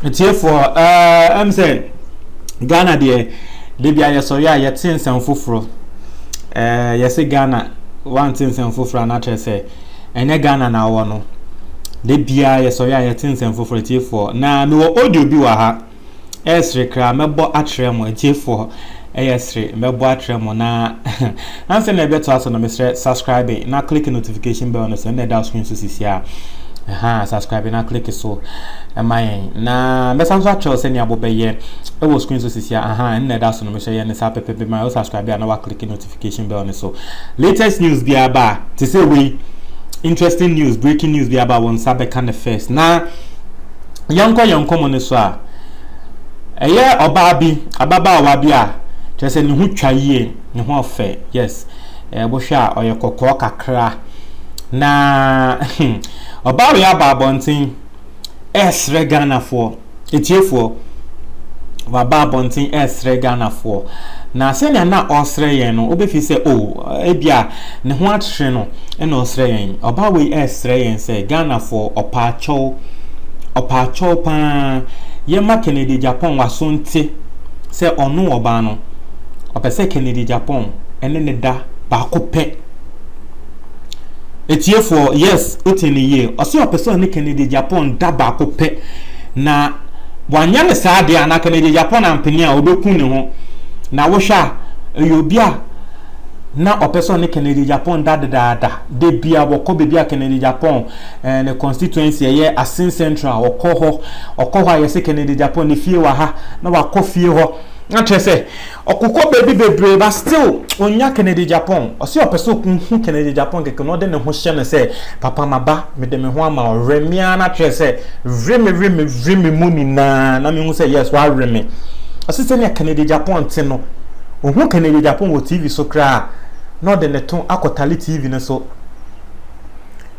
atiefoɔ ɛm sɛ ghana deɛ debi a yɛsɔre a yɛte nsɛm foforɔ ɛɛ yɛse ghana wante nsɛm foforɔ a n'akyerɛ sɛ ɛnyɛ ghana na awɔ no debi a yɛsɔre a yɛte nsɛm foforɔ atiefoɔ na mewɔ audio bi wɔ ha. Ɛyɛ sere kra mɛbɔ akyerɛ mo atiefoɔ ɛyɛ sere mɛbɔ akyerɛ mo na ansa na ɛbɛtoa so no mesrɛ subscribe na click notification bell no so ɛna ɛda screen so sisi a ɛha subscribe na click so ɛma yɛn na mɛsan so akyerɛw sɛ nea bobɛyɛ ɛwɔ screen so sisi a ɛha ɛna ɛda so no mesrɛ yɛn ne saa pɛpɛpɛ ma yɛ subscribe a na wa click notification notification bell no so latest news biara ba a te sɛ wei interesting news breaking news biara ba a wɔn nsa bɛka no first na yɛnkɔ yɛn nkɔmmɔ no so a ɛyɛ ɔbaa bi ababaawa bi a kyerɛ sɛ ne ho twa yie ne ho ɔfɛ yes ɛbohwɛ a ɔyɛ kɔkɔɔ kakra na ɔbaa wei aba abɔnten ɛresrɛ ghanafoɔ Atiefoɔ, waba abɔnten ɛresrɛ Ghanafoɔ, na sɛnea na ɔresrɛ yɛn no, wobɛfi sɛ o, oh, ebia ne ho akyere no na ɔresrɛ yɛn. Ɔbaa wei ɛresrɛ yɛn sɛ Ghanafoɔ ɔpaakyɛw, ɔpaakyɛw paa, yɛma Kennedy Agyapong waso nte sɛ ɔno ɔbaa no, ɔpɛ sɛ Kennedy Agyapong ɛne ne da baako pɛ. Atiefoɔ, yes, wote no yie. Ɔse ɔpɛ sɛ ɔne Kennedy Agyapong da baako pɛ. Na wanyɛ no saa deɛ a, na Kennedy Agyapong ampene a, ɔbɛku ne ho. Na wohwɛ a, ɛyɛ obi a na ɔpɛ sɛ ɔne Kennedy Agyapong da dedaada. Da bi a wɔkɔ baabi a Kennedy Agyapong eh, ne constituency ɛyɛ Asin Central, ɔkɔ hɔ. Ɔkɔ hɔ a yɛse Kennedy Agyapong ne fie wɔ ha, na wakɔ fie hɔ. Na kyerɛ sɛ, Ɔko kɔ baabi bebree but still onnya Kennedy Agyapong. Ɔse ɔpɛ sɛ okohu Kennedy Agyapong kɛkɛ na ɔde ne ho hyɛ no sɛ papa maba mede me ho ama wo. Were me ara na kyerɛ sɛ were me were me were me mu nyinaa na mehu sɛ yes wawere me. Ɔse sɛnea Kennedy Agyapong te no ohu Kennedy Agyapong wɔ TV so koraa a na ɔde ne to akɔtale TV no so.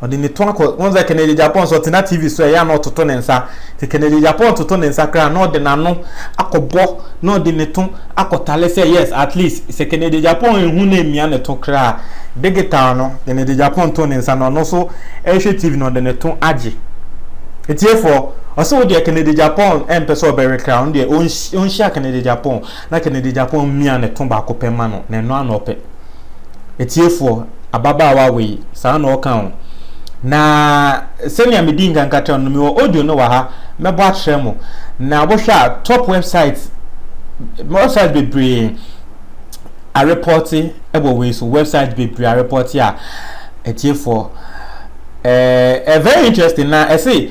Ɔde ne to akɔ, wohu sɛ Kennedy Agyapong nso ɔtena TV so a ɛyɛ a na ɔtoto ne nsa. Nti Kennedy Agyapong toto ne nsa koraa a na ɔde n'ano akɔbɔ na ɔde ne to akɔtare sɛ yes at least sɛ Kennedy Agyapong anhu na amia ne to koraa a digital no Kennedy Agyapong to ne nsa na ɔno nso rehwɛ TV na ɔde ne to agye. Atiefoɔ, ɔse wo deɛ Kennedy Agyapong ɛmpɛ sɛ ɔbɛwe koraa ɔno deɛ ɔnhyia Kennedy Agyapong. Na Kennedy Agyapong mmia ne to baako pɛ ma no, na ɛno ara na ɔpɛ. Atiefoɔ, ababaawa wei, saa na ɔka o. Na sɛnea medii nkan ka kyerɛɛ no no, mewɔ audio no wɔ ha, mɛbɔ akyerɛ mo. Na wohwɛ a, top website, website bebree arepɔte wɔ wei so, website bebree arepɔte a, atiefoɔ. Eh, eh, very interesting na ɛse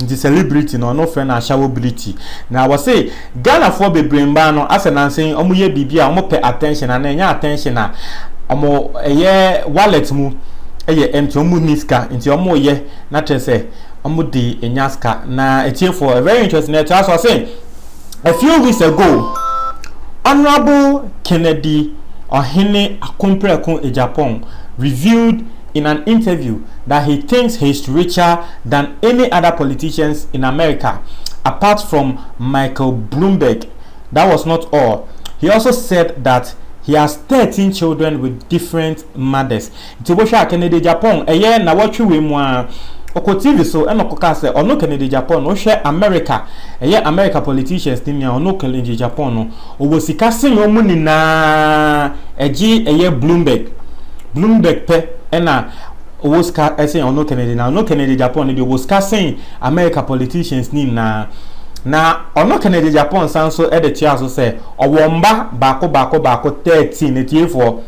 Nti celebrity no ɔno frɛ no ashawobility. Na wɔse Ghanafoɔ bebree mmaa no asɛ nansa yi wɔyɛ biribi a wɔpɛ attention anaa ɛnyɛ attention a wɔn ɛyɛ wallet mu ɛyɛ empty wɔn nni sika nti wɔn yɛ na kyerɛ sɛ wɔn de nya sika na atiefoɔ very interesting na ɛtra so ɔse a few weeks ago honourable Kennedy Ɔhene Akompreko Agyapong revealed in an interview that he thinks he's richer than any other politicians in America apart from Michael Bloomberg, that was not all, he also said that he has thirteen children with different mothers. Nti wobɛhwɛ a Kennedy Agyapong ɛyɛ nawɔtwe wei mu ara ɔkɔ TV so ɛna ɔkɔkaa sɛ ɔno Kennedy Agyapong no wohwɛ America ɛyɛ America politicians no mu a ɔno Kennedy Agyapong no Ɔwɔ sika sen wɔn nyinaa ɛgye ɛyɛ Bloomberg. Bloomberg pɛ ɛna ɔwɔ sika ɛsen ɔno Kennedy na ɔno Kennedy Agyapong no deɛ ɔwɔ sika sen America politicians ne nyinaa. Na ɔno Kennedy Agyapong san nso ɛde toa so sɛ ɔwɔ mma baako baako baako 13 atiefoɔ.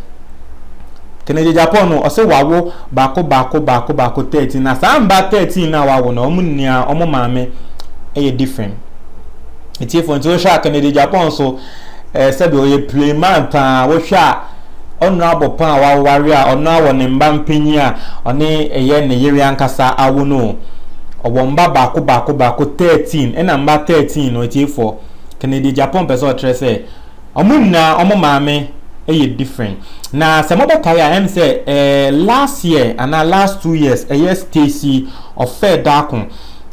Kennedy Agyapong no ɔsɛ wawo baako baako baako baako 13 na saa mma 13 no a wawo no wɔn nyinaa wɔn maame ɛyɛ different. atiefo nti wohwɛ a Kennedy Agyapong so eh, sɛbi ɔyɛ playman paa wohwɛ a ɔno abɔ paa a waware a ɔno awɔ ne mba mpanyin a ɔne ɛyɛ ne yere ankasa awo no ɔwɔ mba baako baako baako 13 ɛna mba 13 no atiefo Kennedy Agyapong pɛ sɛ ɔkyerɛ sɛ Ɔmo nyinaa ɔmo maame yɛ different na sɛ mo bɛkae a ɛm sɛ ɛɛ last year anaa last two years ɛyɛ Stacy ɔfɛɛ daako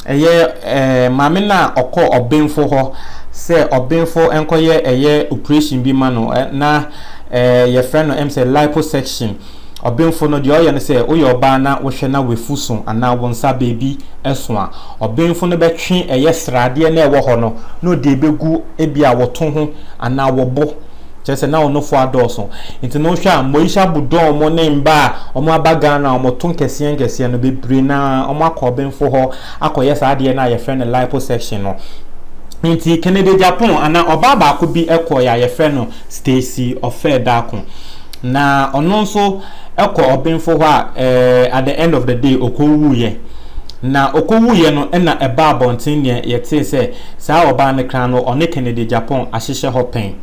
ɛyɛ ɛɛ maame no a ɔkɔ ɔbenfo hɔ sɛ ɔbenfo nkɔyɛ ɛyɛ operation bi ma no na ɛɛ yɛfrɛ no ɛm sɛ liposuction. Ɔbenfo no, deɛ ɔyɛ ne sɛ, woyɛ ɔbaa na wohwɛ na w'afu so anaa wo nsa baabi so a, ɔbenfo no bɛtwe ɛyɛ sradeɛ no a ɛwɔ hɔ no na ɔde abɛgu ebia wo to ho anaa wo bo, kyerɛ sɛ na wo nofoɔ adɔɔso. Nti no wohwɛ a Moisha Budon mo ne mma a wɔaba Ghana a wɔto nkɛseɛ nkɛseɛ no, bebree no ara wɔakɔ ɔbenfo hɔ akɔyɛ saa adeɛ no a yɛfrɛ no liposuction no. Nti Kennedy Agyapong anaa ɔbaa baako bi kɔeɛ a yɛfrɛ no Stacy Ofei Darko. Na ɔno nso kɔ ɔbenfo hɔ a at the end of the day ɔkɔwuiɛ. Na ɔkɔwuiɛ no na ɛbaa abɔnten neɛ yɛtee sɛ saa ɔbaa no kra no ɔne Kennedy Agyapong ahyehyɛ hɔ pɛn.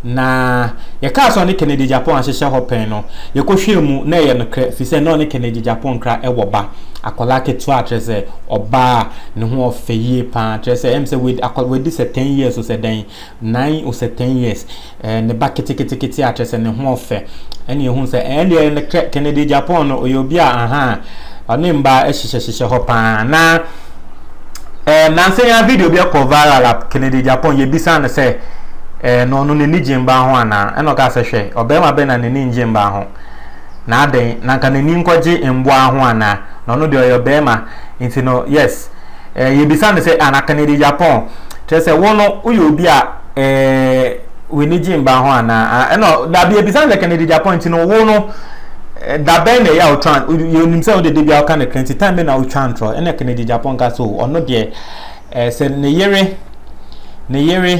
Na yɛkaa sɛ ɔne Kennedy Agyapong ahyehyɛ hɔ pɛn no yɛkɔhwɛɛ mu na ɛyɛ nokorɛ ɛfiri sɛ na ɔne Kennedy Agyapong kra wɔ ba akwadaa ketewa a kyerɛ sɛ ɔbaa a ne ho ɔfɛ yie paa kyerɛ sɛ ɛm sɛ wadi sɛ ten years o sɛ dɛn Nine or sɛ ten years ɛɛ ne ba ketekete a kyerɛ sɛ ne ho ɔfɛ ɛna ehu sɛ ɛn deɛ ne kɛ Kennedy Japan no ɔyɛ obi a ahan ɔne mba ɛhyehyɛ hyehyɛ hɔ paa na ɛɛ nansa yi a video bi ɛkɔ viral a Kennedy Japan yɛ bisa no sɛ ɛɛ na ɔno n'ani gye mba ho anaa ɛna ɔka sɛ hwɛ ɔbɛrima bɛn na n'ani ngye mba ho na adɛn na nka n'ani nkɔgye mboa ho anaa na ɔno deɛ ɔyɛ ɔbɛrima nti no yes. Eh, yɛbisa no sɛ, ana Kennedy Agyapong, kyerɛ sɛ wo no woyɛ obi a eh, w'ani gye mba ho anaa? Ah, ɛna dabi yɛbisa no sɛ Kennedy Agyapong nti no wo no eh, da bɛn na ɛyɛ a wotwa yɛnim sɛ wode da bi a woka no kra nti time bɛ na wotwa ntorɔ ɛna Kennedy Agyapong ka sɛ ɔno deɛ eh, sɛ ne yere ne yere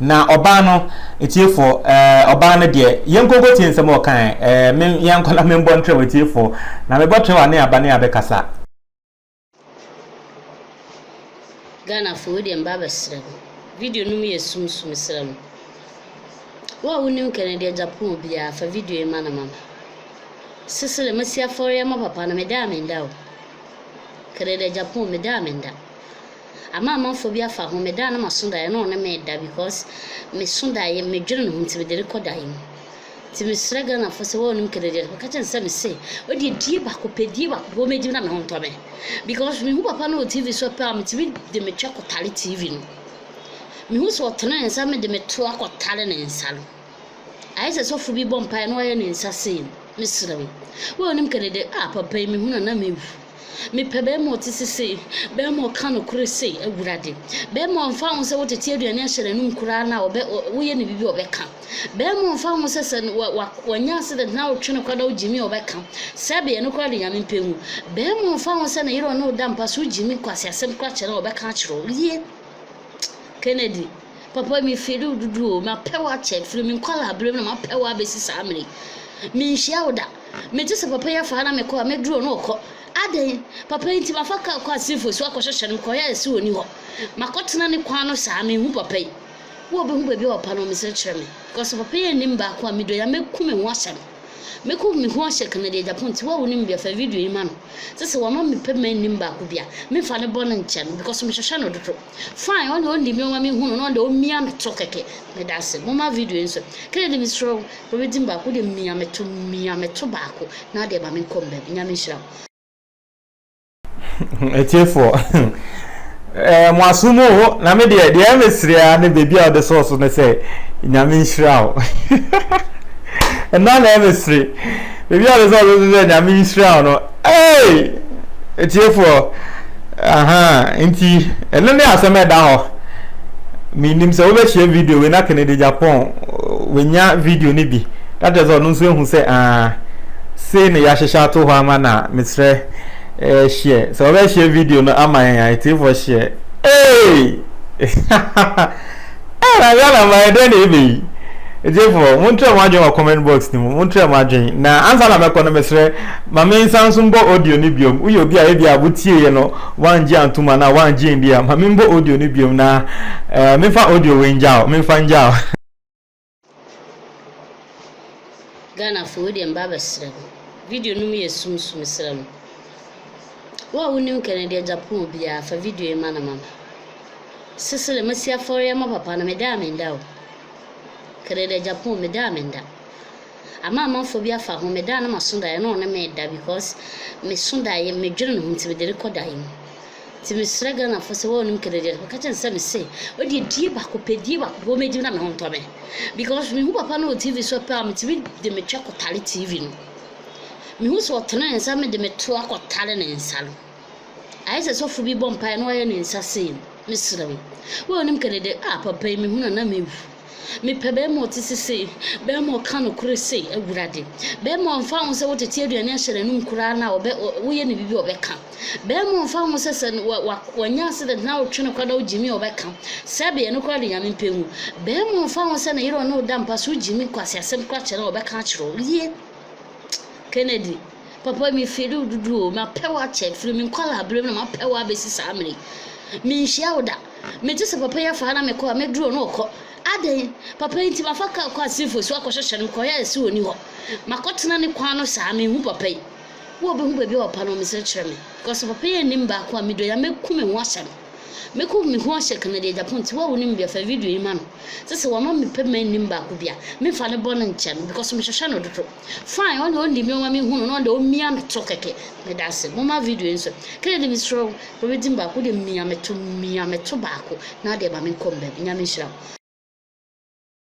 Na ɔbaa no, atiefoɔ, ɛɛ, ɔbaa no deɛ, yɛnkɔ nkɔtie nsɛm a ɔkae, ɛɛ, me, yɛnkɔ na membɔ ntrɛw atiefoɔ, na mebɔ trɛw a ne aba ne abɛkasa. Ghana fo wodeɛ mba abɛsrɛ mo video no mu yɛ sum so mesrɛ mo wo a wonim kɛnɛ deɛ Japan obiaa fa video yi ma no ma me sesere masi afɔreɛ ma papa no meda a menda o kɛnɛ deɛ Japan meda a menda Amanamanfoɔ bi afa ho meda a na maso daeɛ na ɔne me da because meso daeɛ medwene ne ho nti mede rekɔ daeɛ mu nti mesrɛ Ghanafoɔ sɛ wɔnim Kennedy a meka kyerɛ no sɛ mese ɔdeɛ die baako pɛ die baako pɛ wɔmɛdi na me ho ntɔ me because mehu papa no wɔ TV so pɛ a metumi de metwa kɔtare TV no mehu sɛ ɔtene ne nsa mede meto akɔtare ne nsa no ayɛ sɛ sɔfo bi bɔ mpaeɛ na ɔyɛ ne nsa sei mesrɛ wo wɔnim Kennedy a papa yi mehu na na mewu Mepɛ bɛɛma a ɔte sesei, bɛɛma a ɔka nokore sei, Awurade. Bɛɛma a ɔmfa ho sɛ wotete aduane ahyɛ n'anom koraa no a ɔbɛ woyɛ no biribi a ɔbɛka. Bɛɛma a ɔmfa ho sɛ sɛ wa wa wanya accident na wotwe no kwa na wogyimi a ɔbɛka. Sɛbe ɛno koraa de Nyame mpɛ hu. Bɛɛma a ɔmfa ho sɛ ne yere ɔne wo da mpa so wogyimi nkwaseasɛm koraa kyerɛ no a ɔbɛka akyerɛ wo. Yie. Kennedy, papa me feel wo dodo o, mapɛ wo akyɛ firi me nkwadaa berɛ mu na mapɛ wo abɛsi saa mmerɛ yi. Menhyia wo da. Megye sɛ papa yi afa ha na me kɔ a, me duro no rekɔ. Adɛn? Papa yi nti, mafa kaa kɔ Assinfo so akɔhwehwɛ no, mekɔyɛɛ sɛ ɔnni hɔ. Makɔtena ne kwan ano saa, menhu papa yi. Wo a wobɛhu baabi a ɔpa no, mesrɛ kyerɛ me. Because bapa yi annim baako a medɔ yi a, mɛku me ho ahyɛ no. Mɛku me ho ahyɛ Kennedy Agyapong nti. Wo a wonim bi a, fa video yi ma no. Sɛ sɛ wama me pɛ ma nnim baako bi a, memfa ne bɔne nkyɛ no, because mehwehwɛ no dodo. Fine ɔne ɔnni mi ɔma me hu no na ɔde ɔmia me to kɛkɛ meda ase moma video nso Kennedy mesrɛ wo bɛbɛ din baako wode mia me to mia me to baako na adeɛ ma me nkɔ mbɛm nyame nhyira wo atiefoɔ eh, mo aso mu o na me deɛ deɛ mesrɛ a ne baabi a ɔde sɔɔ so ne sɛ nyame nhyira wo ɛna na ɛmesere baabi a ɔde sɔɔ so ne sɛ nyame nhyira wo no Eeii! Atiefoɔ, ahaa, nti ɛno ne asɛm a ɛda hɔ. Mennim sɛ wobɛhyɛ video wei na Kennedy Agyapong wanya video no bi na kyerɛ sɛ ɔno nso ahu sɛ aa sei na yɛahyehyɛ ato hɔ ama no a mesrɛ eh, hyɛ sɛ wobɛhyɛ video no ama yɛn a atiefoɔ hyɛ. Eeii! Ɛɛ na Ghana mma yɛ dɛn na ɛbɛ yi? Agyefoɔ, montrɛ mo adwene wɔ comment box no mu, montrɛ mo adwene. Na ansa na mɛkɔ no mesrɛ, ma me nsan nso mbɔ audio no biom. Woyɛ obi a ebia wo tieeɛ no woangye antom anaa woangye ndi a, ma me mbɔ audio no biom na ɛɛ memfa audio wei ngya wo, memfa ngya wo. Ghanafoɔ wei deɛ mba abɛsrɛ mo. Video no mu yɛ sum so mesrɛ mo. Wo a wonim Kennedy Agyapong biara fa video yi ma no ma me. Sesere masi afɔre ama papa no meda a menda o. Kennedy Agyapong meda a menda. Ama amanfoɔ bi afa ho meda a na maso daeɛ na ɔne me reda because meso daeɛ medwene ne ho nti mede rekɔ daeɛ mu. Nti mesrɛ Ghanafoɔ sɛ wɔnnom kɛnɛ deɛ no wɔka kyerɛ no sɛ mese ɔdeɛ die baako pɛ die baako pɛ wɔmɛdi na me ho ntɔ me because mehu papa no wɔ TV so pɛ a metumi de metwa kɔtare TV no mehu sɛ ɔtene ne nsa mede meto akɔtare ne nsa no ayɛ sɛ sɔfo bi bɔ mpaeɛ na wayɛ ne nsa sei mesrɛ wo wɔnnom kɛnɛ deɛ a papa yi mehu na na mewu Mepɛ bɛɛma a ɔte sesei, bɛɛma a ɔka nokore sei, Awurade. Bɛɛma a ɔmfa ho sɛ wotete aduane ahyɛ n'anom koraa no a ɔbɛ woyɛ no biribi a ɔbɛka. Bɛɛma a ɔmfa ho sɛ sɛ wa wa wanya accident na wotwe no kwa na wogyimi a ɔbɛka. Sɛbe ɛno koraa de Nyame mpɛ hu. Bɛɛma a ɔmfa ho sɛ ne yere ɔne wo da mpa so wogyimi nkwaseasɛm koraa kyerɛ no a ɔbɛka akyerɛ wo. Yie. Kennedy, papa me feel wo dodo o, mapɛ wo akyɛ firi me nkwadaa berɛ mu na mapɛ wo abɛsi saa mmerɛ yi. Menhyia wo da. Megye sɛ papa yi afa ha na me kɔ a, me duro no rekɔ. Adɛn? Papa yi nti, mafa kaa kɔ Assinfo so akɔhwehwɛ no, mekɔyɛɛ se ɔnni hɔ. Makɔtena ne kwan ano saa, menhu papa yi. Wo a wobɛhu baabi a ɔpa no, mesrɛ kyerɛ me. Because papa yi annim baako a medɔ yi a, mɛku me ho ahyɛ no. Mɛku me ho ahyɛ Kennedy Agyapong nti, wo a wonim bi a, fa video yi ma no. Sɛ sɛ wama me pɛ ma nnim baako bi a, memfa no bɔne nkyɛ no, because mehwehwɛ no dodo. Fine ɔne ɔnni mi ɔma me hu no na ɔde ɔmia me to kɛkɛ meda ase moma video nso Kennedy mesrɛ wo bɛbɛ din baako wode mia me to mia me to baako na adeɛ ma me nkɔ mbɛm nyame nhyira wo.